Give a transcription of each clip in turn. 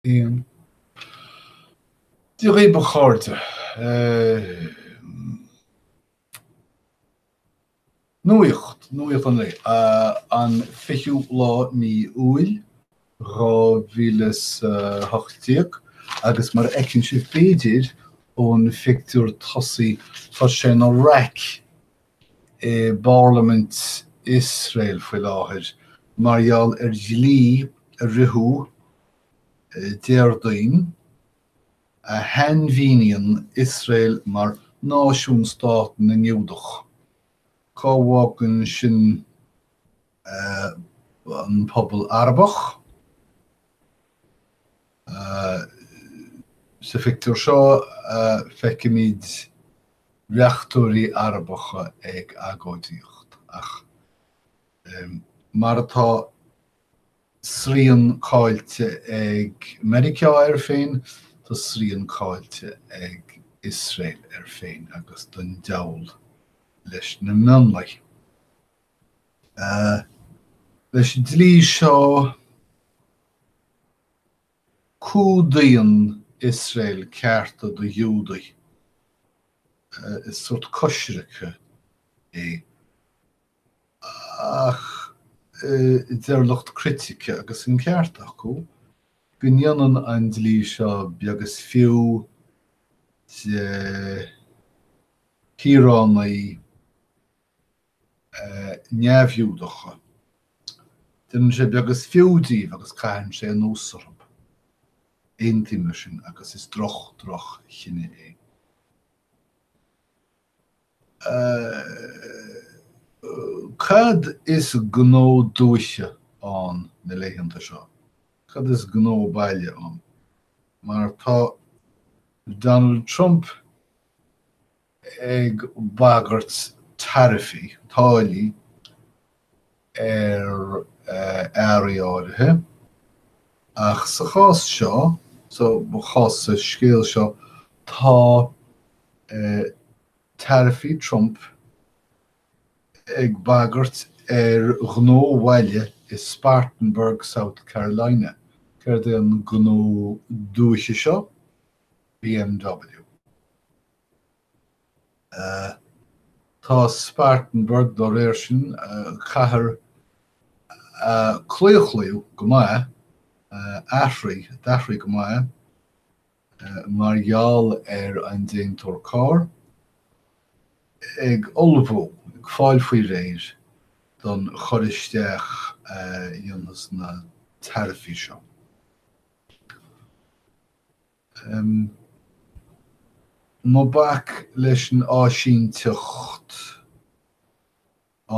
1. Dia dhaoibh a chairde, nuaíocht, nuaíocht an lae, an 20ú lá mí Iúil 2018 agus mar a fheiceann sibh b'fhéidir ón phictiúr tosaigh tá sé ina raic i bparlaimint Iosrael faoi láthair mar gheall ar dhlí a ritheadh Déardaoin a shainmhíníonn Iosrael mar 'náisiún-stát na nGiúdach'. Cá bhfágann sin an pobal Arabach. Sa phictiúr seo feicimid reachtóirí Arabacha ag agóidíocht ach mar atá srian caillte ag Meiriceá air féin, tá srian caillte ag Iosrael air féin agus don diabhal leis na mionlaigh. Leis an dlí seo, cumhdaíonn Iosrael cearta do Ghiúdaigh. Is sórt coisricthe é. Ach deir lucht critice, agus an ceart acu, go ndéanann an dlí seo beag is fiú de shaoránaigh neamh-Ghiúdacha. Déanann sé beag is fiú díobh agus caitheann sé anuas orthu. Aontaím leis sin agus is droch droch chinneadh é. Cad is gnó dúiche ann na laethanta seo? Cad is gnó baile ann? Mar tá Donald Trump ag bagairt taraifí, táillí, ar earraí áirithe, ach sa chás seo, sa chás sa scéal seo, tá taraifí Trump ag bagairt ar ghnó bhaile i Spartanburg, South Carolina. Céard é an gnó dúiche seo? BMW. Tá Spartanburg, dá réir sin, cathair a claochlaíodh go maith, a d'athraigh go maith, mar gheall ar an déantóir carr, ag ullmhú, ag fáil faoi réir, don chur isteach a dhéanfas na taraifí seo. ii, Ná bac leis an áisínteacht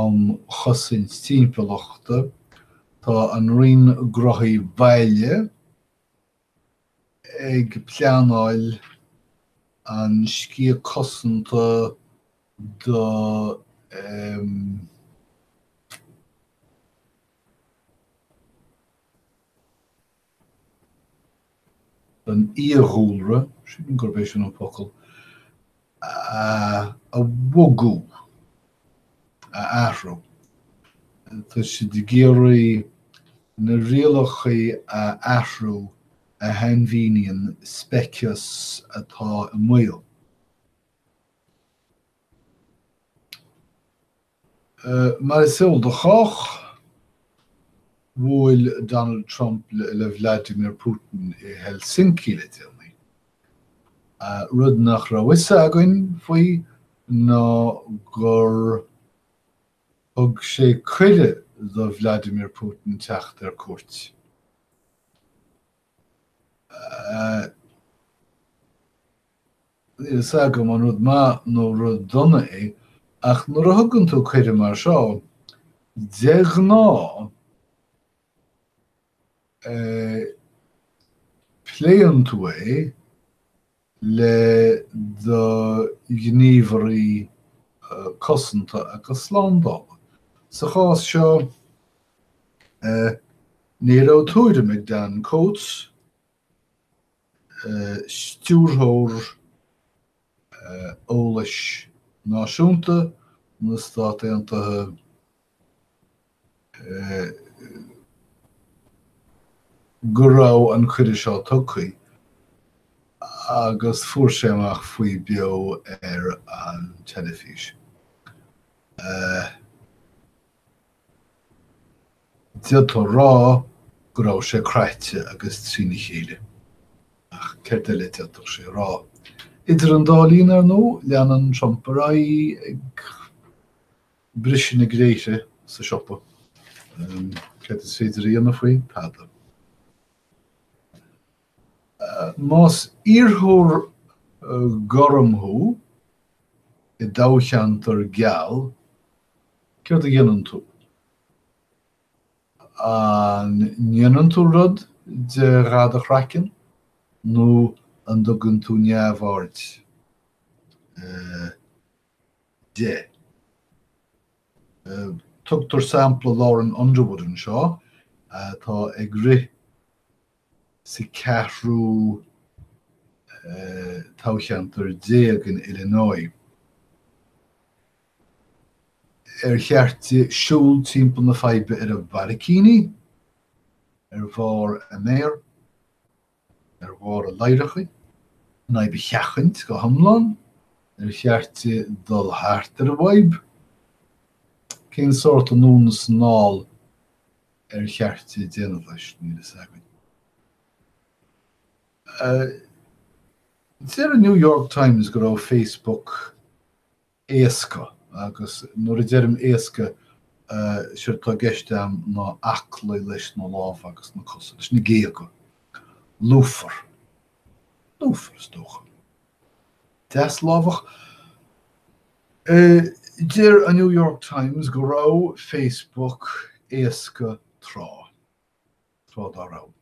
um chosaint timpeallachta, tá an Roinn Gnóthaí Baile ag pleanáil an sciath cosanta do an fhiadhúlra, sílim gurb é sin an focal, a bhogadh, a athrú. Tá siad ag iarraidh na rialacha a athrú a shainmhíníonn speiceas atá i mbaol. Mar is eol do chách, bhuail Donald Trump le Vladimir Putin i Helsinki le déanaí. Rud nach raibh fhios againn faoi ná gur thug sé cuireadh do Vladimir Putin teacht ar cuairt. Níl fhios agam an rud maith nó rud dona é, ach nuair a thugann tú cuireadh mar seo, de ghnáth, pléann tú é le do ghníomhairí cosanta agus slándála. Sa chás seo, ní raibh tuairim ag Dan Coats Stiúrthóir Eolais Náisiúnta na Stát Aontaithe go raibh an cuireadh seo tugtha agus fuair sé amach faoi beo ar an teilifís. D'fhéadfá a rá go raibh sé croite agus trína chéile. Ach céard eile a d'fhéadfadh sé a rá? Idir an dá linn, ar ndóigh, leanann Trump ar aghaidh ag briseadh na gréithre sa siopa. Céard is féidir a dhéanamh faoi? Tada. Más iarrthóir gorm thú i dtoghcheantar geal, céard a dhéanann tú? An ndéanann tú rud de dhath a chraicinn nó an dtugann tú neamhaird de? Tugtar sampla Lauren Underwood anseo atá ag rith sa cheathrú toghcheantar déag in Illinois. Ar cheart di siúl timpeall na faidhbe ar a barraicíní, ar bharr a méar, ar bharr a ladhracha, an fhadhb a sheachaint go hiomlán? Ar cheart di dul thart ar an bhfadhb? Cén sórt anonn is anall ar cheart di déanamh leis, níl a fhios againn. Deir an New York Times go raibh Facebook éasca, agus nuair a deirim éasca, séard atá i gceist a'm ná aclaí leis na lámha agus na cosa, leis na géaga. Lúfar. Lúfar, is dócha. Deaslámhach? Deir an New York Times go raibh Facebook éasca tráth, tráth dá raibh.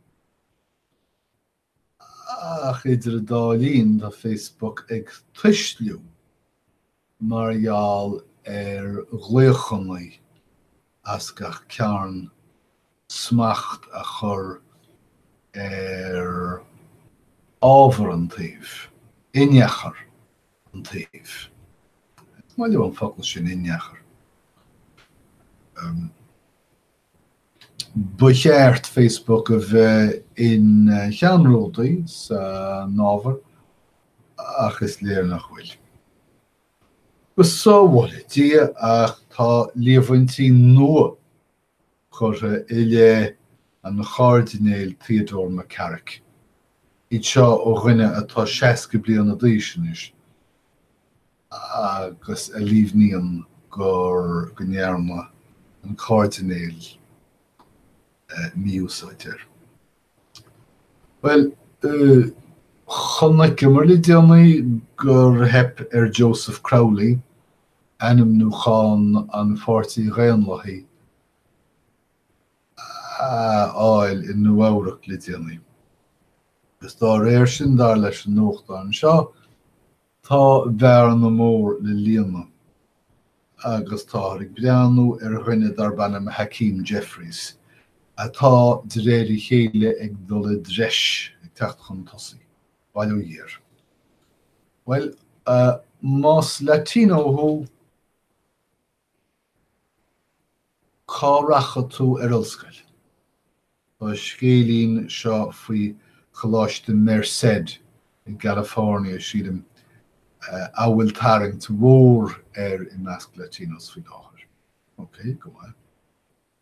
Ach idir an dá linn, tá Facebook ag tuisliú mar gheall ar ghlaochannaí as gach cearn smacht a chur ar ábhar an tsuímh, inneachar an tsuímh. Is maith liom an focal sin inneachar. Ba cheart Facebook a bheith ina cheannródaí san ábhar ach is léir nach bhfuil. Go sábhála Dia ach tá líomhaintí nua curtha i leith an Chairdinéil Theodore McCarrick, iad seo ó dhuine atá seasca bliana d'aois anois agus a líomhnaíonn gur go ndearna an Cairdinéil mí-úsáid air. Bhuel, chonaiceamar le déanaí gur theip ar Joseph Crowley ainmniúchán an Pháirtí Dhaonlathaigh a fháil i Nua-Eabhrac le déanaí, agus dá réir sin, dar leis an nuachtán seo, tá bearna mór le líonadh agus táthar ag breathnú ar dhuine darb ainm Hakeem Jeffries, atá, de réir a chéile, ag dul i dtreis, ag teacht chun tosaigh. Bhail ó Dhia. Bhuel, más Latino thú, cá rachadh tú ar ollscoil? Tá scéilín seo faoi Choláiste Merced in California, sea, a bhfuil tarraingt mhór air i measc Latinos faoi láthair. OK, go maith.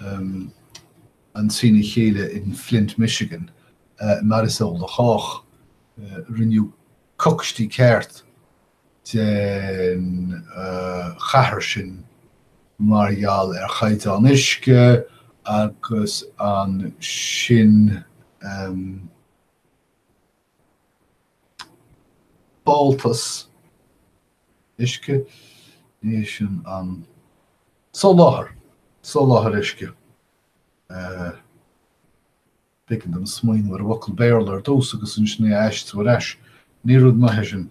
an trína chéile in Flint, Michigan, mar is eol do chách. Rinneadh cocstí ceart den chathair sin mar gheall ar chaighdeán uisce agus ansin, fáltas uisce, ní shin an. soláthar, soláthar uisce. B'éigean dom smaoineamh ar an bhfocal Béarla ar dtús agus ansin é a aistriú ar ais. Ní rud maith é sin.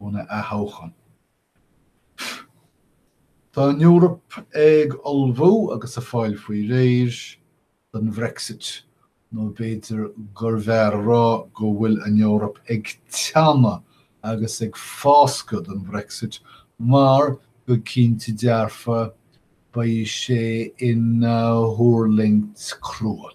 óna athtoghchán. Tá an Eoraip ag ullmhú agus ag fáil faoi réir don Brexit, nó b'fhéidir gurbh fhearr a rá go bhfuil an Eoraip ag teannadh agus ag fáscadh don Brexit, mar go cinnte dearfa beidh sé ina thuirlingt crua.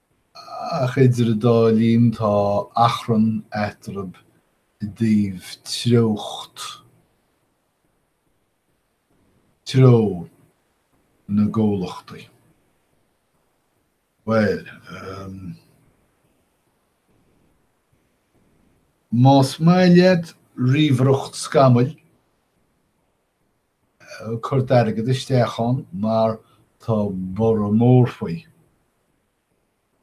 ach idir an dá linn tá achrann eatarthu i dtaobh treocht, treo, na gcomhlachtaí. Bhuel, más maith leat ríomhaireacht scamaill, cur d'airgead isteach ann mar tá borradh mór faoi.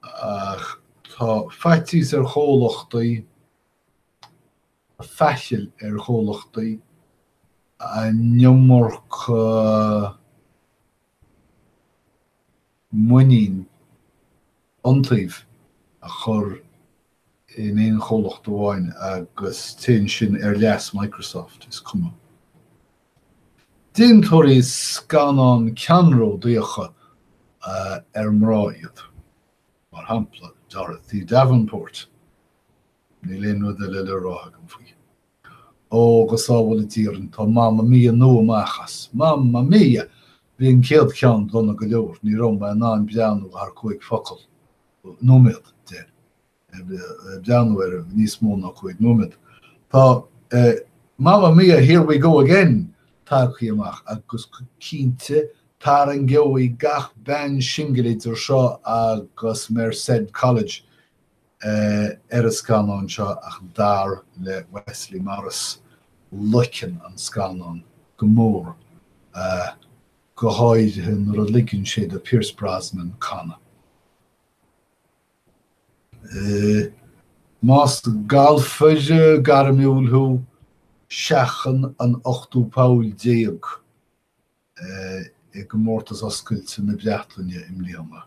Ach tá faitíos ar chomhlachtaí, faichill ar chomhlachtaí an iomarca. muinín, iontaoibh a chur in aon chomhlacht amháin agus téann sin ar leas Microsoft, is cuma. Déantóirí scannán ceannródaíocha ar mná iad, mar shampla Dorothy Davenport, níl aon rud eile le rá agam faoi. Ó, go sábhála Dia sinn, tá Mamma Mia nua amach as. Mamma Mia! Bhí an chéad cheann dona go leor, ní raibh mé in ann breathnú thar cúig focal, nóiméad, de, breathnú ar níos mó ná cúig nóiméad. Tá, eh, Mamma Mia, here we go again! tagtha amach agus cinnte tarraingeoidh sé gach bean singil idir seo agus Merced College, ar an scannán seo ach dar le Wesley Morris loiceann an scannán go mór go háirithe nuair a ligeann sé do Pierce Brosnan canadh. Más galfaire gairmiúil thú, seachain an t-ochtú poll déag i gComórtas Oscailte na Breataine i mbliana.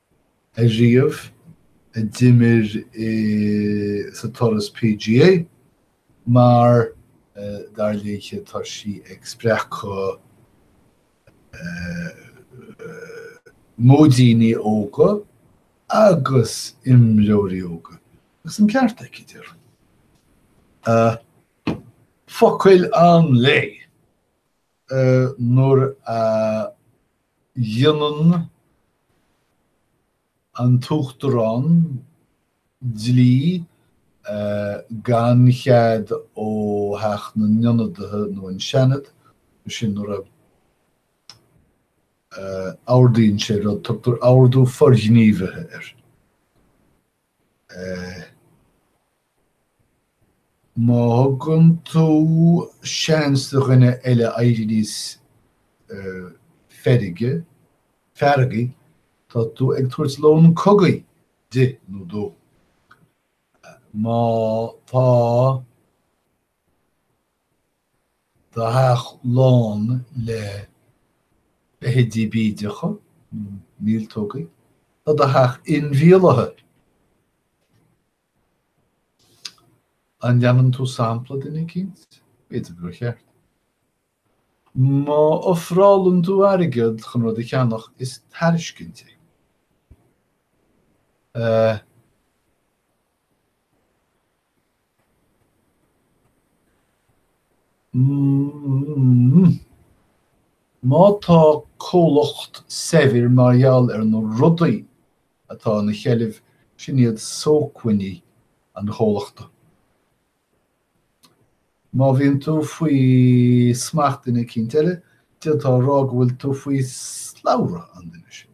ariamh, a d'imir sa turas PGA, mar, dar léithe, tá sí ag spreagadh maidíní óga agus imreoirí óga. Agus an ceart aici, déarfainn. Focail an lae! nuair a dhéanann an tUachtarán dlí gan chead ó Theach na nIonadaithe nó an Seanad, sin nuair a ordaíonn sé rud, tugtar ordú forghníomhaithe air. Má thugann tú seans do dhuine eile éirí níos feirge, feargaí, tá tú ag tabhairt lón cogaidh di nó dó. Má tá. tá do theach lán le feithidí bídeacha míoltógaí, tá do theach inmhíolaithe. An leanann tú sampla duine eicínt? B'fhéidir gur cheart. Má ofrálann tú airgead chun rud a cheannach, is tairiscint é. Má tá comhlacht saibhir mar gheall ar na rudaí atá ina sheilbh, sin iad sócmhainní an chomhlachta. Má bhíonn tú faoi smacht duine eicínt eile, d'fhéadfá a rá go bhfuil tú faoi slabhra an duine sin.